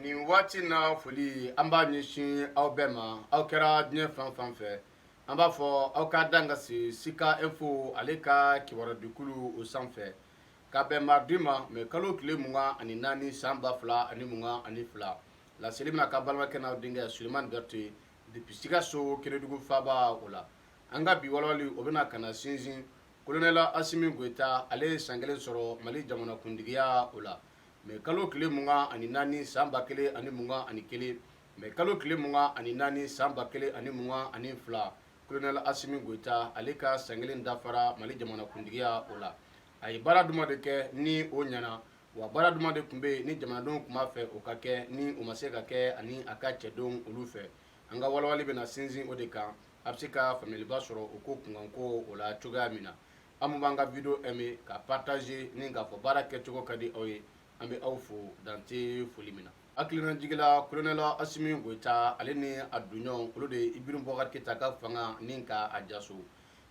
nin waati na foli an b'a ɲɛsin aw bɛɛ ma aw kɛra diɲɛ fan fan fɛ an b'a fɔ aw ka dan ka se sika info ale ka kibarudikulu o sanfɛ ka bɛn maridi ma mɛ kalo tile mugan ani naani san ba fila ani mugan ani fila laseli bɛna kɛ aw balimakɛ n'aw denkɛ suleman bɛrɛte depuis sikaso kenedugu faaba o la an ka bi walawali o bɛna ka na sinsin kolonɛli asimi goyita ale ye san kelen sɔrɔ mali jamanakuntigiya o la mɛ kalo tile mugan ani naani san ba kelen ani mugan ani kelen mɛ kalo tile mugan ani naani san ba kelen ani mugan ani fila kolonɛli asimi goyita ale ka san kelen dafara mali jamana kuntigiya o la a ye baara jumɛn de kɛ ni o ɲana wa baara jumɛn de tun bɛ yen ni jamanadenw tun b'a fɛ o ka kɛ ni o ma se ka kɛ ani a ka cɛdenw olu fɛ an ka walawali bɛna sinsin o de kan a bɛ se ka faamuyaliba sɔrɔ o ko kunkanko o la cogoya min na Aw minnu b'an ka video aimé ka partager ni k'a fɔ baara kɛcogo ka di aw ye, an bɛ aw fo dan tɛ foli min na. Hakilina jigila Colonel Asimi Goyita ale ni a dunɲɔgɔnw olu de ye Ibrahim Boubacar Keyita ka fanga nin ka a jaso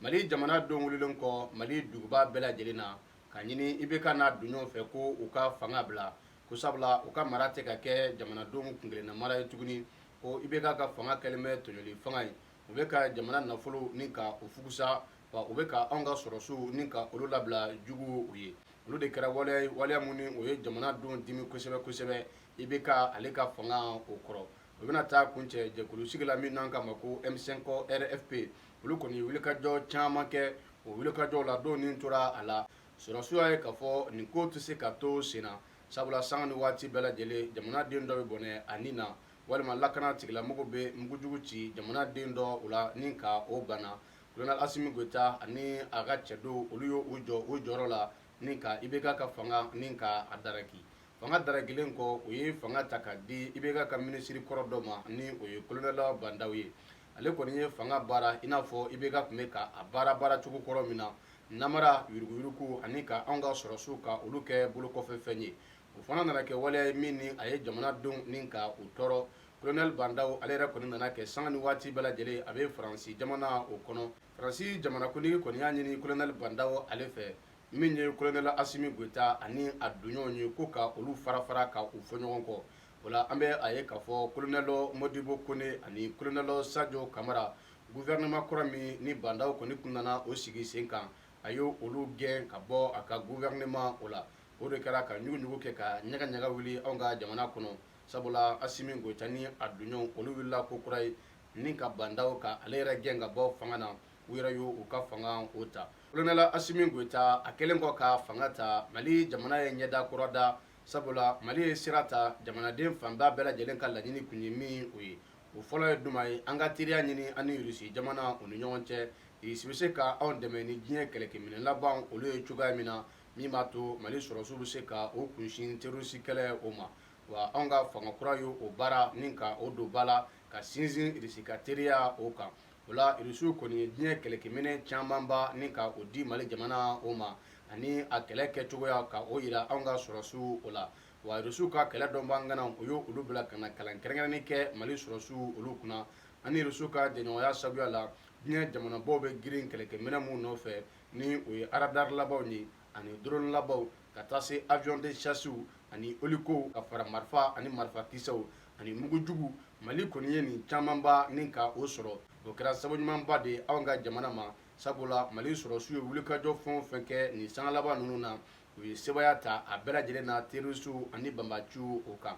Mali jamanadenw wililen kɔ Mali duguba bɛɛ lajɛlen na ka ɲini IBK n'a dunɲɔgɔnw fɛ ko u ka fanga bila ko sabula u ka mara tɛ ka kɛ jamanadenw kunkelennamara ye tuguni ko IBK ka fanga kɛlen bɛ tɔɲɔli fanga ye u bɛ ka jamana nafolow ni ka u fusa wa u bɛ ka anw ka sɔrɔsiw ni ka olu labila juguw ye olu de kɛra waleya waleya minnu u ye jamanadenw dimi kosɛbɛ kosɛbɛ IBK ale ka fanga o kɔrɔ u bɛna taa kuncɛ jɛkulu sigili la min n'an k'a ma ko M cinq rfp olu kɔni wulikajɔ caman kɛ o wulikajɔw la dɔw ni tora a la sɔrɔsiw y'a ye k'a fɔ nin kow tɛ se ka to sen na sabula sanga ni waati bɛɛ lajɛlen jamanaden dɔ bɛ bɔnɛ a ni na walima lakanatigilamɔgɔ bɛ mugujugu ci jamanaden dɔ o la ni ka o bana kolonɛli asimi goyita ani a ka cɛdenw olu y'u jɔ u jɔyɔrɔ la ni ka IBK ka fanga nin ka a daraki fanga darakilen kɔ u ye fanga ta ka di IBK ka minisiri kɔrɔ dɔ ma ni o ye kolonɛli ba ndaw ye ale kɔni ye fanga baara i n'a fɔ IBK tun bɛ ka a baara baara cogo kɔrɔ min na namara yuruguyuruguw ani ka anw ka sɔrɔsiw ka olu kɛ bolokɔfɛfɛn ye o fana nana kɛ waleya ye min ni a ye jamanadenw nin ka u tɔɔrɔ kolonɛli ba ndaw ale yɛrɛ kɔni nana kɛ sanga ni waati bɛɛ lajɛlen a bɛ faransi jamana o kɔnɔ faransi jamanakuntigi kɔni y'a ɲini kolonɛli ba ndaw ale fɛ min ye kolonɛli asimi goyita ani a donɲɔgɔnw ye ko ka olu farafara ka u fɔ ɲɔgɔn kɔ o la an bɛ a ye k'a fɔ kolonɛli modibo kone ani kolonɛli sajo kamara guvɛrɛnɛma kura min ni ba ndaw kɔni tun nana o sigi sen kan a ye olu gɛn ka bɔ a ka guvɛrɛnɛma o la o de kɛra ka ɲuguɲugu kɛ ka ɲagaɲaga wuli anw ka jamana kɔnɔ sabula asimi goyita ni a tɔɲɔgɔnw olu wulila ko kura ye ni ka ba ndaw ka ale yɛrɛ gɛn ka bɔ fanga na u yɛrɛ y' u ka fanga o ta kolonɛla asimi goyita a kɛlen kɔ ka fanga ta mali jamana ye ɲɛda kura ta sabula mali ye sira ta jamanaden fanba bɛɛ lajɛlen ka laɲini tun ye min o ye o fɔlɔ ye jumɛn ye an ka teriya ɲini an ni irisi jamana u ni ɲɔgɔn cɛ irisi bɛ se ka anw dɛmɛ ni diɲɛ kɛlɛkɛminɛ laban olu ye cogoya min na min b'a to mali sɔrɔsiw bɛ se ka u kunsin terroriste kɛlɛ o ma, wa anw ka fanga kura ye o baara ni ka o don ba la ka sinsin Russie ka teriya o kan, o la Russiw kɔni ye diɲɛ kɛlɛkɛminɛn camanba ni ka o di Mali jamana o ma ani a kɛlɛ kɛcogoya ka o jira anw ka sɔrɔsiw o la, wa Russiw ka kɛlɛ dɔnbaga ŋanaw u ye olu bila ka na kalan kɛrɛnkɛrɛnnen kɛ Mali sɔrɔsiw olu kunna, an ni Russiw ka jɛɲɔgɔnya sabuya la diɲɛ jamanabaw bɛ girin kɛlɛkɛminɛn minnu nɔfɛ, ni o ye radar labanw ye ani drone labanw ka taa se avion de chasse ani hélico ka fara marifa ani marifa kisɛw ani mugu juguw Mali kɔni ye nin camanba ni ka o sɔrɔ o kɛra sababu ɲumanba de ye anw ka jamana ma sabula Mali sɔrɔsiw ye wulikajɔ fɛn o fɛn kɛ nin sanga laban ninnu na u ye sebaaya ta a bɛɛ lajɛlen na terroristuw ani banbaciw o kan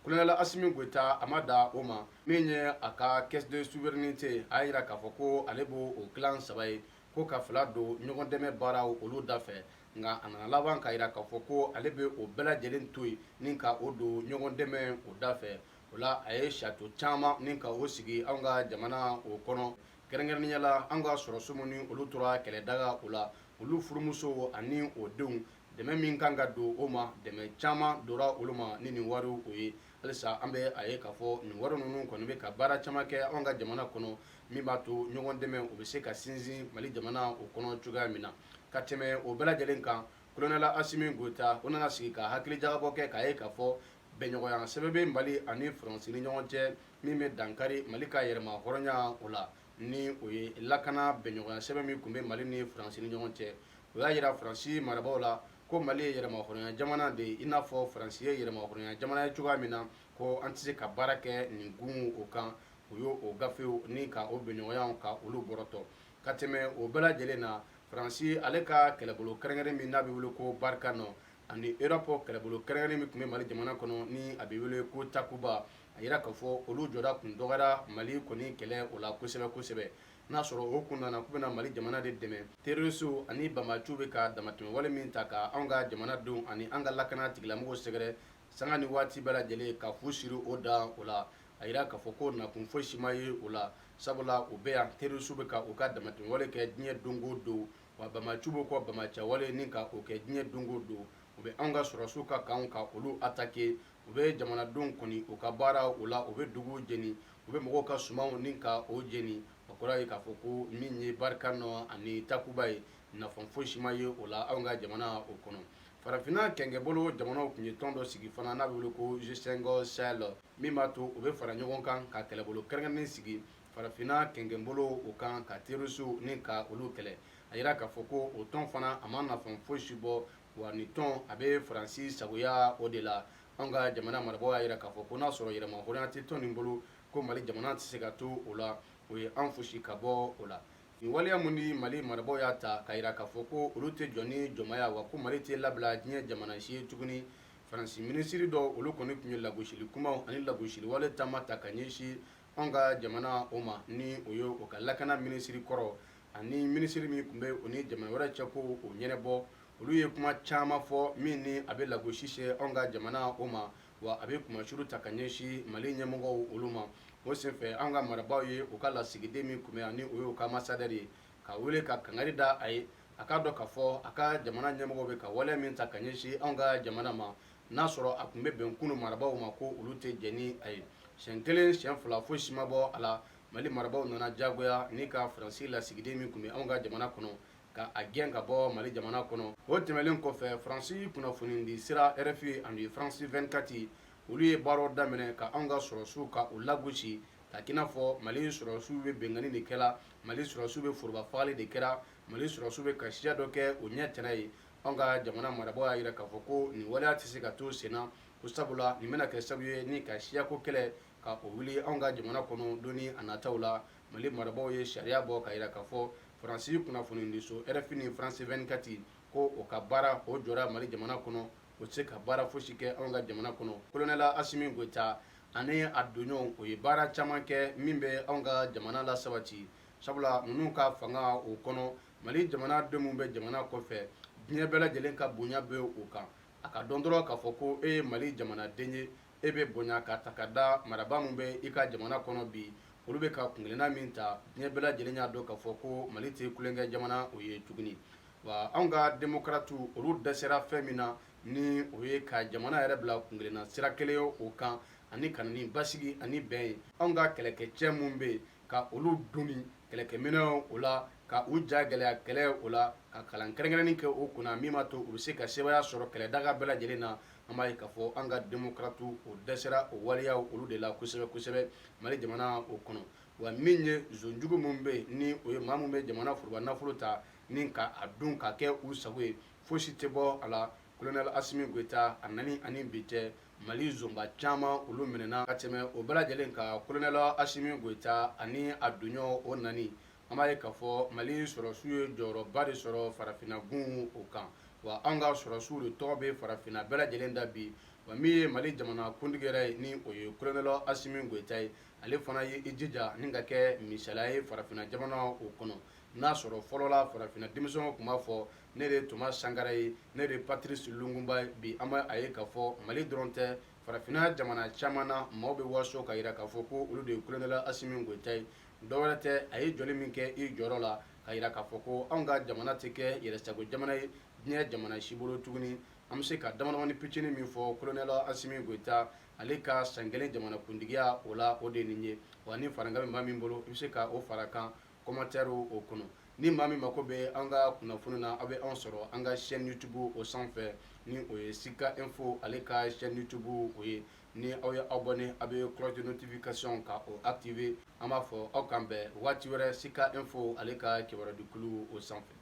kolonɛla Asimi Goyita a ma dan o ma min ye a ka caisse de souveraineté a y'a jira k'a fɔ ko ale bɛ o tilan saba ye ko ka fila don ɲɔgɔn dɛmɛ baaraw olu da fɛ nka a nana laban k'a jira k'a fɔ ko ale bɛ o bɛɛ lajɛlen to yen ni ka o don ɲɔgɔn dɛmɛ o da fɛ o la a ye château caman ni ka o sigi anw ka jamana o kɔnɔ kɛrɛnkɛrɛnnenya la anw ka sɔrɔsi minnu olu tora kɛlɛdaga o la olu furumusow ani o denw dɛmɛ min kan ka don o ma dɛmɛ caman dora olu ma ni nin wariw o ye halisa an bɛ a ye k'a fɔ nin wari ninnu kɔni bɛ ka baara caman kɛ anw ka jamana kɔnɔ min b'a to ɲɔgɔn dɛmɛ o bɛ se ka sinsin mali jamana o kɔnɔ cogoya min na ka tɛmɛ o bɛɛ lajɛlen kan kolonɛla asimi goyita o nana sigi ka hakili jagabɔ kɛ k'a ye k'a fɔ bɛnɲɔgɔnya sɛbɛn bɛ mali ani faransi ni ɲɔgɔn cɛ min bɛ dankari mali ka yɛrɛmahɔrɔnya o la ni o ye lakana bɛnɲɔgɔnya sɛbɛn min tun bɛ mali ni faransi ni ɲɔgɔn cɛ o y'a jira faransi marabaaw la ko mali ye yɛrɛmahɔrɔnya jamana de ye i n'a fɔ faransi ye yɛrɛmahɔrɔnya jamana ye cogoya min na ko an tɛ se ka baara kɛ nin kun o kan u y'o gafew ni ka o bɛnɲɔgɔnyaw ka olu bɔrɔtɔ ka tɛmɛ o bɛɛ lajɛlen na faransi ale ka kɛlɛbolo kɛrɛnkɛrɛn min n'a bɛ wele ko barkhane ani europe kɛlɛbolo kɛrɛnkɛrɛn min tun bɛ mali jamana kɔnɔ ni a bɛ wele ko takuba a yira k'a fɔ olu jɔda tun dɔgɔyara mali kɔni kɛlɛ o la kosɛbɛ kosɛbɛ n'a sɔrɔ o kun nana k'u bɛna mali jamana de dɛmɛ terrorisiw ani banbaanciw bɛ ka damatɛmɛwale min ta ka anw ka jamanadenw ani an ka lakana tigilamɔgɔw sɛgɛrɛ sanga ni waati bɛɛ lajɛlen ka fu siri o dan o la a yira k'a fɔ ko nakun foyi si ma ye o la sabula u bɛ yan terrorisiw bɛ ka u ka damatɛmɛwale kɛ diɲɛ don o don wa banbaanciw bɛ k'o banbaanciyawale ni ka o kɛ diɲɛ don o don u bɛ anw ka sɔrɔdasiw ka kanw ka olu attaquer u bɛ jamanadenw kɔni u ka baara o la u bɛ dugu jeni u bɛ mɔgɔw ka sumanw ni ka o jeni o kɔrɔ ye k'a fɔ ko min ye barkhane ani takuba ye nafa foyi si ma ye o la anw ka jamana o kɔnɔ farafinna kɛnkɛnbolo jamanaw tun ye tɔn dɔ sigi fana n'a bɛ wele ko g5 sahel min b'a to u bɛ fara ɲɔgɔn kan ka kɛlɛbolo kɛrɛnkɛrɛnnen sigi farafinna kɛnkɛnbolo o kan ka terrorisiw ni ka olu kɛlɛ a jira k'a fɔ ko o tɔn fana a ma nafa foyi si bɔ wa nin tɔn a bɛ faransi sagoya o de la an ka jamana marabagaw y'a jira k'a fɔ ko n'a sɔrɔ yɛrɛmahɔrɔnya tɛ tɔn nin bolo ko mali jamana tɛ se ka to o la o ye an fosi ka bɔ o la nin waleya min ni mali marabagaw y'a ta k'a jira k'a fɔ ko olu tɛ jɔ ni jɔnmaya wa ko mali tɛ labila diɲɛ jamana si ye tuguni faransi minisiri dɔ olu kɔni tun ye lagosili kumaw ani lagosiliwale caman ta ka ɲɛsin Anw ka jamana o ma ni o ye u ka lakana minisiri kɔrɔ ani minisiri min tun bɛ u ni jamana wɛrɛ cɛko o ɲɛnabɔ olu ye kuma caman fɔ min ni a bɛ lagosi se anw ka jamana o ma wa a bɛ kunmasuuli ta ka ɲɛsin mali ɲɛmɔgɔw olu ma o senfɛ an ka marabaaw ye u ka lasigiden min tun bɛ a ni o ye u ka ambassadeur ye ka wele ka kangari da a ye a k'a dɔn k'a fɔ a ka jamana ɲɛmɔgɔw bɛ ka waleya min ta ka ɲɛsin an ka jamana ma n'a sɔrɔ a tun bɛ bɛn kunun marabagaw ma ko olu tɛ jɛn ni a ye siɲɛ kelen siɲɛ fila foyi si ma bɔ a la mali marabagaw nana diyagoya ni ka faransi lasigiden min tun bɛ anw ka jamana kɔnɔ ka a gɛn ka bɔ mali jamana kɔnɔ o tɛmɛnen kɔfɛ faransi kunnafonidisira rfi ani faransi 24 olu ye baara daminɛ ka anw ka sɔrɔdasiw ka u lagosi k'a k'i n'a fɔ mali sɔrɔdasiw bɛ binkanni de kɛra mali sɔrɔdasiw bɛ foroba fagali de kɛra mali sɔrɔdasiw bɛ ka siya dɔ kɛ o ɲɛ tana ye anw ka jamana marabagaw y'a jira k'a fɔ ko nin waleya tɛ se ka to senna ko sabula nin bɛna kɛ sababu ye ni ka siyako kɛlɛ ka o wuli anw ka jamana kɔnɔ don ni a nataw la mali marabagaw ye sariya bɔ k'a jira k'a fɔ faransi kunnafonidiso rfi ni faransi 24 ko o ka baara o jɔra mali jamana kɔnɔ o tɛ se ka baara fosi kɛ anw ka jamana kɔnɔ kolonɛli asimi goyita ani a tɔɲɔgɔnw o ye baara caman kɛ min bɛ anw ka jamana lasabati sabula ninnu ka fanga o kɔnɔ mali jamanaden min bɛ jamana kɔfɛ diɲɛ bɛɛ lajɛlen ka bonya bɛ o kan a ka dɔn dɔrɔn k'a fɔ ko e ye mali jamanaden ye e bɛ bonya k'a ta k'a da marabaa min bɛ i ka jamana kɔnɔ bi olu bɛ ka kunkelenna min ta diɲɛ bɛɛ lajɛlen y'a dɔn k'a fɔ ko mali tɛ tulonkɛ jamana o ye tuguni wa anw ka demokaratiw olu dɛsɛra fɛn min na ni o ye ka jamana yɛrɛ bila kunkelenna sira kelen ye o kan ani ka na ni basigi ani bɛn ye anw ka kɛlɛkɛcɛ minnu bɛ yen ka olu doni kɛlɛkɛminɛn o la ka u ja gɛlɛya kɛlɛ o la ka kalan kɛrɛnkɛrɛn kɛ o kunna min b'a to u bɛ se ka sebaaya sɔrɔ kɛlɛ daga bɛɛ lajɛlen na an b'a ye k'a fɔ an ka demokaratiw o dɛsɛra o waleya olu de la kosɛbɛ kosɛbɛ mali jamana o kɔnɔ wa min ye zon jugu minnu bɛ ni o ye maa minnu bɛ jamana foroba nafolo ta ni ka a dun k'a kɛ u sago ye foyisi tɛ bɔ a la kolonɛli asimi goyita nani ani bi cɛ Mali zonba caman olu minɛna ka tɛmɛ o bɛɛ lajɛlen kan kolonɛli asimi goyita ani a tɔnɲɔgɔn o nani an b'a ye k'a fɔ mali sɔrɔdasiw ye jɔyɔrɔba de sɔrɔ farafinna gun o kan wa an ka sɔrɔdasiw de tɔgɔ bɛ farafinna bɛɛ lajɛlen da bi wa min ye mali jamana kuntigi yɛrɛ ye ni o ye kolonɛli asimi goyita ye ale fana ye i jija ni ka kɛ misala ye farafinna jamana o kɔnɔ n'a sɔrɔ fɔlɔla farafinna denmisɛnw tun b'a fɔ ne de ye toma sankara ye ne de ye patirisi lumunba ye bi an b'a ye k'a fɔ mali dɔrɔn tɛ farafinna jamana caman na maaw bɛ waso ka yira k'a fɔ ko olu de ye kolonɛli asimi goyita ye dɔwɛrɛ tɛ a ye jɔli min kɛ i jɔyɔrɔ la ka yira k'a fɔ ko anw ka jamana tɛ kɛ yɛrɛsago jamana ye diɲɛ jamana si bolo tuguni an bɛ se ka damadamani picini min fɔ kolonɛli asimi goyita ale ka san kelen jamanakuntigiya o la o de ye nin ye wa ni farankan min bɛ min bolo i bɛ se ka o fara kan komantɛri o kɔnɔ ni maa min mako bɛ an ka kunnafoni na aw bɛ anw sɔrɔ an ka chaîne youtube o sanfɛ ni o ye sika info ale ka chaîne youtube o ye ni aw ye abonner aw bɛ cloche de notification ka o activer an b'a fɔ aw k'an bɛn waati wɛrɛ sika info ale ka kibarudikulu o sanfɛ